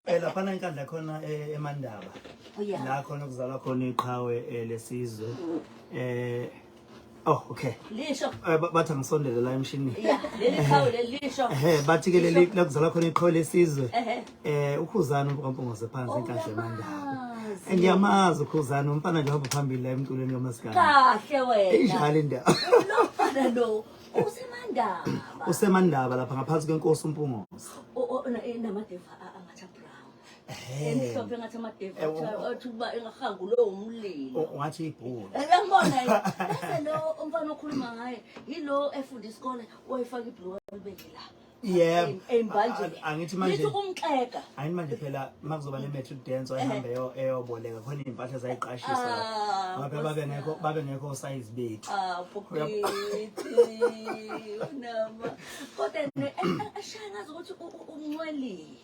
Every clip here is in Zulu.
Eh laphana inkandla khona eh, eMandaba. Oh, yeah. La khona kuzalwa khona iqhawe eh, lesizwe. Eh Oh okay. Lisho. Eh, ba- Bathi angisondele la emshinini. Yeah, leli qhawe leli lisho. Ehe bathi ke leli la kuzalwa khona iqhawe lesizwe. Ehhe. Eh ukhuzana uMpompongose phansi inkandla eMandaba. Uyazi. Ngiyamazi ukhuzana umfana nje uhamba phambili la emculweni kaMaskandi. Kahle wena. Injalo indaba. Lofana lo. usemandaba usemandaba lapha ngaphansi kwenkosi uMpungosi namadeva angathi abrown emhlophe engathi amadeva athi ukuba engahangu lowo mlilo ungathi ibhulu yambona bese lo umfana okhuluma ngaye yilo efunda isikole wayifaka ibhulu libeke la yebo embanjeni angithi manje ngithi umxega angithi manje phela makuzoba ne matric dance wayihambe yo eyoboleka khona impahla zayiqashisa ah, ngabe babe ngekho babe ngekho size bethu ah phukithi nama kodwa ne eh, eh, ashaya ngazi ukuthi umncwelile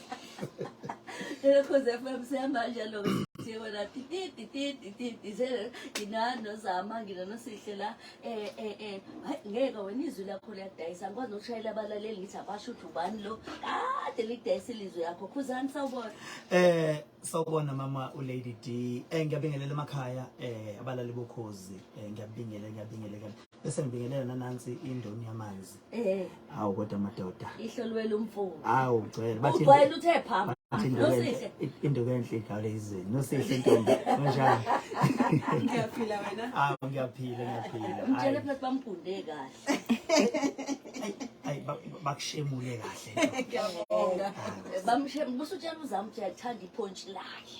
Nilokhuze FM siyamanje lo siko la tititi tititi sele nginano zama nginano sihle la eh eh eh hayi ngeke wena izwi lakho liyadayisa ngikwazi nokushayela abalaleli ngithi abasho ukuthi ubani lo kade lidayisa ilizwi yakho khuzani sawubona eh sawubona mama u Lady D eh ngiyabingelela emakhaya eh abalali bokhozi eh ngiyabingelela ngiyabingelela bese ngibingelela nanansi indoni yamanzi eh awu kodwa madoda ihlolwela umfuni awu ugcwele bathi ugcwele uthe phamba nosihle induku enhle igawule izweni nosihle intombi unjani ngiyaphila wena ah ngiyaphila ngiyaphila ngitshele phela bamgunde kahle ay bakushemule kahle ngiyabonga bamshemule busutshela uzamthi yathanda iphontshi lakhe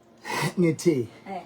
ngithi eh.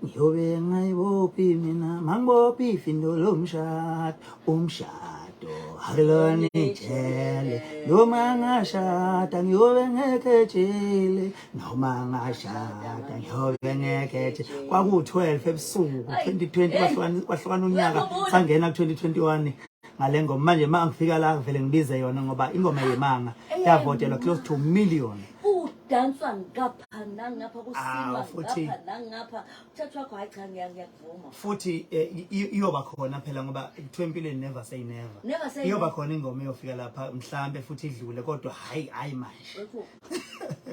ngiyobe ngayibophi mina mangibophi findo lomshado umshado akulona ijele noma ngashada ngiyobe ngekhe jele noma ngashada ngiyobe ngekhe jele kwaku-12 ebusuku 2020 kwahlukana unyaka sangena ku-2021 ngale ngoma manje ma ngifika la ngivele ngibize yona ngoba ingoma yemanga yavotelwa close to million kudanswa ngapha nangapha kusilwa ah, ngapha nangapha uthatha wakho hayi cha ngiyakuvuma futhi eh, iyoba khona phela ngoba kuthiwa empilweni never say never never say iyoba khona ingoma eyofika lapha mhlambe futhi idlule kodwa hayi hayi manje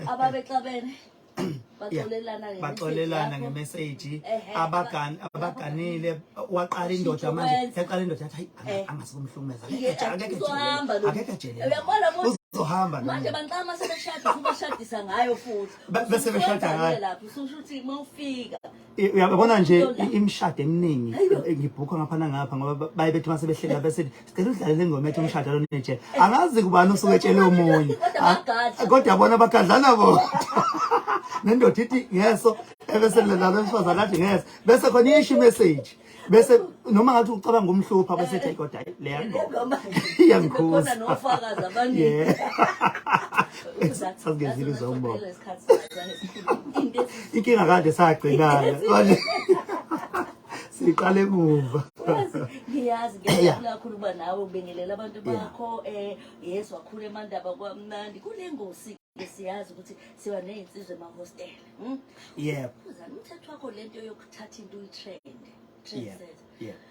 ababexabene baxolelana ngemeseji abaganile waqala indoda manje yaqala indoda yathi hayi angase kumhlumeza akekho ajelele uzohamba manje banqama sebeshada ubashadisa ngayo futhi bese beshada ngayo lapho ususho ukuthi mawufika uyabona nje imishado eminingi eh, ngibhukha ngapha nangapha ngoba baye bethi mase behlela bese sicela udlale lengoma ethi umshado lo nje angazi kubani usuke etshele omunye ah, kodwa bona bagadlana bona nendoda ithi ngeso ebese lalo mfazi akathi ngeso bese khona isho message bese noma ngathi ucabanga umhlupha bese ethi kodwa leya ngoma iyangikhuza nofakazi abaningi sazigezile zombona inkinga kade sagcinana manje siqale emuva ngiyazi ngiyakula kakhulu uba nawe ubingelela abantu bakho um yesu wakhula emandaba kwamnandi kule ngosi siyazi ukuthi siba nezinsizwe emahostela hmm? yebo uzana umthetho wakho lento yokuthatha into uyitrend trend yebo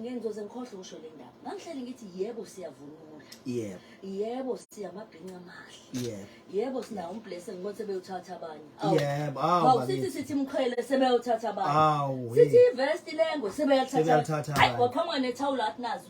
ngenzoze ngikhohle ukusho le ndaba ngangihlele ngithi yebo siyavunula yebo yebo siyamabhinca amahle yebo yebo sinawo umblese ngibona sebeyothatha abanye yebo awu sithi sithi mkhwele sebeyothatha abanye sithi ivest lengo sebeyathatha hayi waphangwa nethawula athi nazo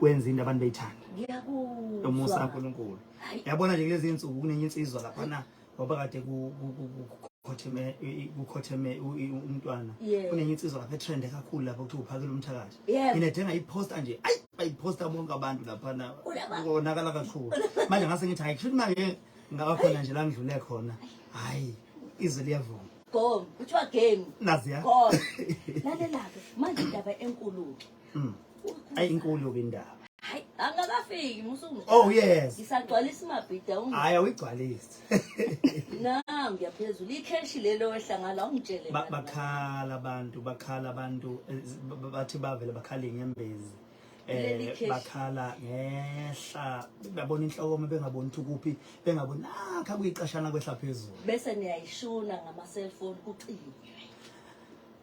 wenza into abantu beyithanda umusa kaNkulunkulu yabona nje kulezi insuku kunenye insizwa lapha na ngoba kade kukhotheme kukhotheme umntwana kunenye insizwa lapha etrende kakhulu lapho kuthiwa uphakela umthakathi mina denga iposta nje ayi bayiphosta bonke abantu lapha na konakala kakhulu manje ngase ngithi hayi kushuthi manje ngabakhona nje la ngidlule khona hayi izwi liyavuma gom kuthiwa game naziya lalela-ke manje indaba enkulu-ke Mm. Ayi inkulu ke indaba. Hayi angakafiki musuku. Oh yes. Isagcwalisa imabhida ungu. Hayi awigcwalisi. Na ngiyaphezulu icash lelo wehlangala ungitshele. Bakhala abantu bakhala abantu eh, bathi bavele bakhala inyembezi. Eh bakhala ngehla babona inhloko uma bengaboni ukuthi kuphi bengaboni nakha ah, kuyiqashana kwehla phezulu. Bese niyayishuna ngama cellphone kucike.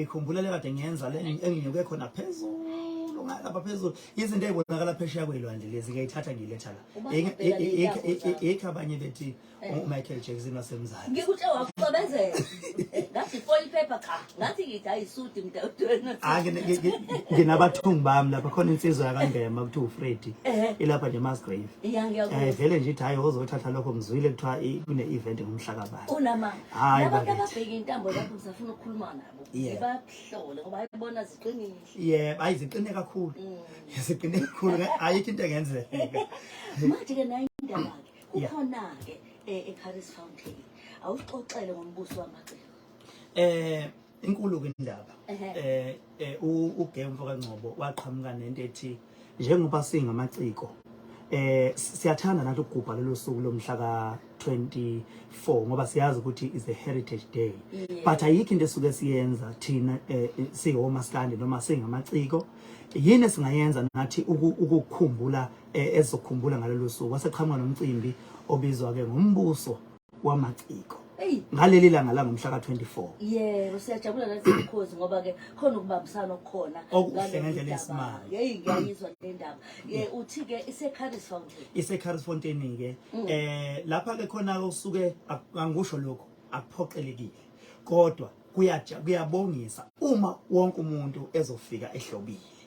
ikhumbule le kade ngiyenza le enginyuke khona phezulu ngalapha phezulu izinto ezibonakala phesheya kwelwandle lezi ngiyayithatha ngiyiletha la ikho abanye bethi umichael jackson wasemzali ngikuthe wakucobezela ngathi foil paper cha ngathi ngithi ayisudi mdadwena nginabathungi bami lapha khona insizwa yakangema kuthiwa ufredi ilapha nje masgrave um vele nje ithi hhayi ozothatha lokho ngizwile kuthiwa kune-event ngomhlakabani hayi abantu ababheke intambo lapho ngisafuna ukukhuluma nabo ngibahlole ngoba ayibona ziqinile yebo ayi ziqine kakhulu mm. ziqine kakhulu ayikho into engenzeka manje ke nayo indaba ke kukhona ke eh, eCaris Fountain awuxoxele ngombuso wamaciko eh inkulu ke indaba eh eh uGay umfoka Ngcobo waqhamuka nento ethi njengoba singamaciko eh siyathanda nathi ukugubha lelo suku lomhla ka 24 ngoba siyazi ukuthi is a heritage day yeah. but ayikho into esuke siyenza thina eh, eh siwomaskandi noma singamaciko yini singayenza nathi ukukhumbula eh, ezokhumbula ngalelo suku waseqhamuka nomcimbi obizwa ke ngombuso wamaciko ngaleli langa langomhla ka-24 yebo siyajabula nathi mkhozi ngoba ke khona ukubambisana okukhona okuhle ngendlela esimanga yeyi ngiyayizwa le ndaba ye uthi-ke ise-caris fountain ise-caris fountain-ke um lapha-ke khona-ke usuke angikusho lokho akuphoqelekile kodwa kuyabongisa uma wonke umuntu ezofika ehlobile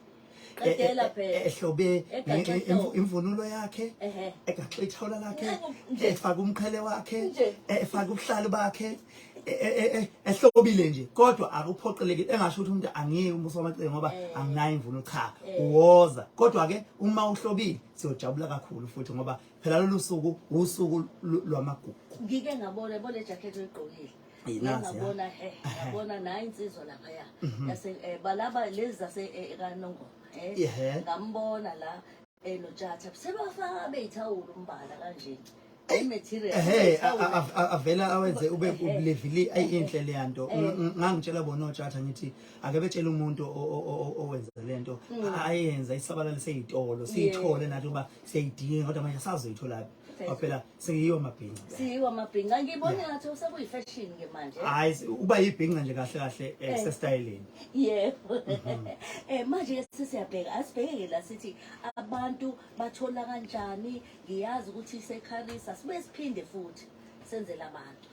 Qedela phela. ehlobe Egaxe nge- inhlobo. imvu- imvunulo yakhe Ehhe. egaxe ithawula lakhe Nje, nje. efake umqhele wakhe Nje. efake ubuhlalu bakhe e- e- e- e- ehlobile nje kodwa akuphoqeleki engasho ukuthi umuntu angiyeke umusa wamacele ngoba Eh. anginayo imvunulo cha Eh. uwoza kodwa ke uma uhlobile siyojabula kakhulu futhi ngoba phela lolu suku usuku lu- lwamagugu ngike ngabona yabona le jacket oyigqokile Yinazi ya. ngabona eh ngabona nayi insizwa lapha ya yase eh, balaba lezi zase eh, kanongo eh Ihe. ngambona la eh notshatha sebafaka abeyithawula umbala kanje i material Ehhe a- a- a- a- avela awenze ube ubulevili ayinhle le yanto Ng- ng- ngangitshela bona otshatha ngithi ake betshele umuntu o- o- o- o- owenza le nto ayenza isabalale seyitolo siyithole nathi uba siyayidinga kodwa manje sazoyitholaphi Phela phela seyiwa amabhinca. Siyiwa amabhinca. Ngibona Yeah. ngathi sekuyi fashion ke manje. Hayi si- uba yibhinca nje kahle kahle eh, Eh. sesitayeleni. Yebo. Mhm. Eh manje ke sesiyabheka asibheke ke la sithi abantu bathola kanjani ngiyazi ukuthi isekharisa sibe siphinde futhi senzele abantu.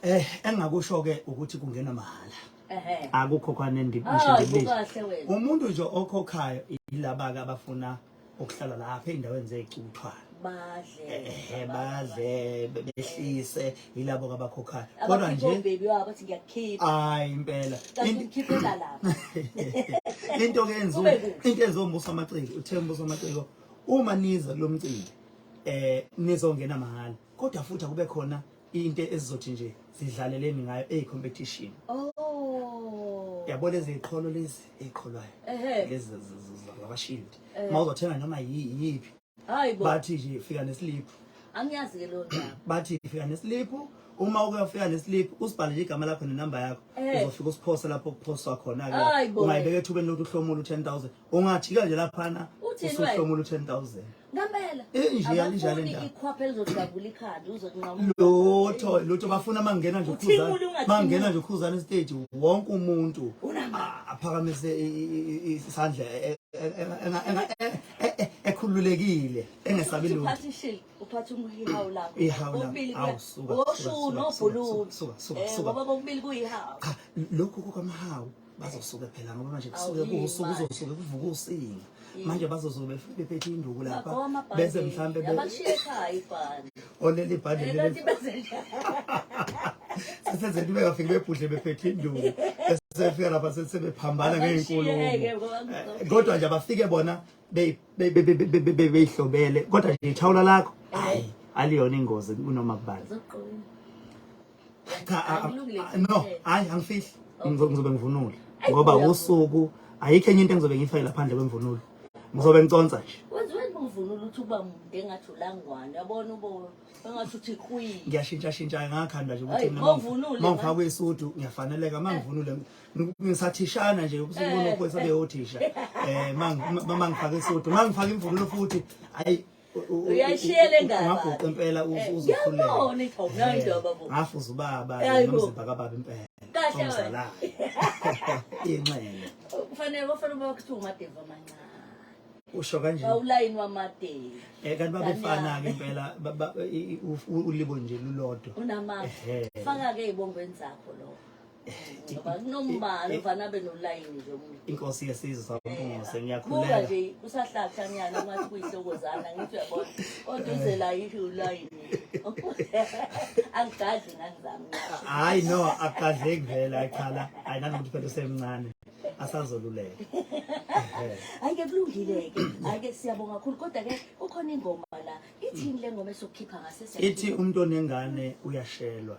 Eh engakusho ke ukuthi kungena mahhala. Ehhe. Akukho kwane ndi- Ah, ngisho ngibizo. ukahle wena. Umuntu nje okhokhayo yilaba ke abafuna ukuhlala lapha endaweni zecuthwa badle ehe badle behlise yilabo abakhokhayo kodwa nje baby wabo athi ngiyakhipha hayi impela ngikhiphela lapha into ke enzo into ezombuso amaciko uthembuso amaciko uma niza lomcimbi eh nizongena mahala kodwa futhi akube khona into ezizothi nje zidlaleleni ngayo ey competition oh yabo lezi iqholo lezi eqholwayo lezi zabashield eh. mawuzothenga noma yiphi hayibo bathi nje fika neslip angiyazi ke lo ndaba bathi fika neslip uma ukuyofika neslip usibhalele igama lakho nenamba yakho eh. uzofika usiphose lapho kuphoswa khona ke ungayibeka ethubeni lokuthi uhlomula u10000 ungajika nje laphana usuhlomula u-10000 ngempela lutho lutho bafuna mangena nje ukhuzana mangena nje ukhuzana estage wonke umuntu aphakamise isandla e- e- e- ekhululekile engesabi lutho uphatha umhihawu lakho kokubili kuya osho unobhuluzi eh, ngoba kokubili kuyihawu lokhu kukamhawu bazosuke phela ngoba manje kusuke kuwusuku kuzosuke kuvuka usinga manje bazozobe bephethe induku lapha bese mhlambe oleli bhande leli sesenze into bengafiki bebhudle bephethe induku sefika lapha sebephambana ngeenkulumo eh, kodwa nje abafike bona beyihlobele kodwa nje ithawula lakho hayi aliyona ingozi kunoma kubani cha a- a- Akulungile a- no kuphela. hayi angifihli Ngizo- ngizobe ngivunule Ayi, ngoba uyavuka. usuku ayikho enye into engizobe ngiyifakela phandle kwemvunulo ngizobe ngiconsa nje Wenziwe ngumvunulo uthi uba mude engathi ulangwane. Yabona ubo engathi uthi kwi. ngiyashintsha shintsha ngakhanda nje ukuthi Ayi, mina mawuvunule, ma ngifakwe isudu ngiyafaneleka mangivunule ng- ngisathishana nje usuku lokho sabe othisha eh mang- ma- mangifaka isudu mangifaka imvunulo futhi ayi uyayishiyela engane ungaguqa impela eh, uzokhuleka yabona ikho nayo into babo ngafuza ubaba nomzimba kababa impela kahle wena inxele kufanele kufanele uba kuthiwa umadeva amancane usho kanje bawulayini wamadeva eh kanti babefana ke impela ulibo nje lulodwa unamandla faka ke ibongweni zakho lokho Nombala uvana abe nolayini nje umuntu. Inkosi yesizwe sampunguse ngiyakhuleka. Buka nje usahlakha nyana ungathi kuyihlokozana ngithi uyabona. Oduze la yithi ulayini. Angigadli ngani zami. Hayi no akugadleki vele ayikhala. Hayi nanokuthi phela usemncane. asazoluleka ayike kulungile-ke ayike siyabonga kakhulu kodwa-ke kukhona ingoma la ithini le ngoma esokukhipha ngasese ithi umuntu onengane uyashelwa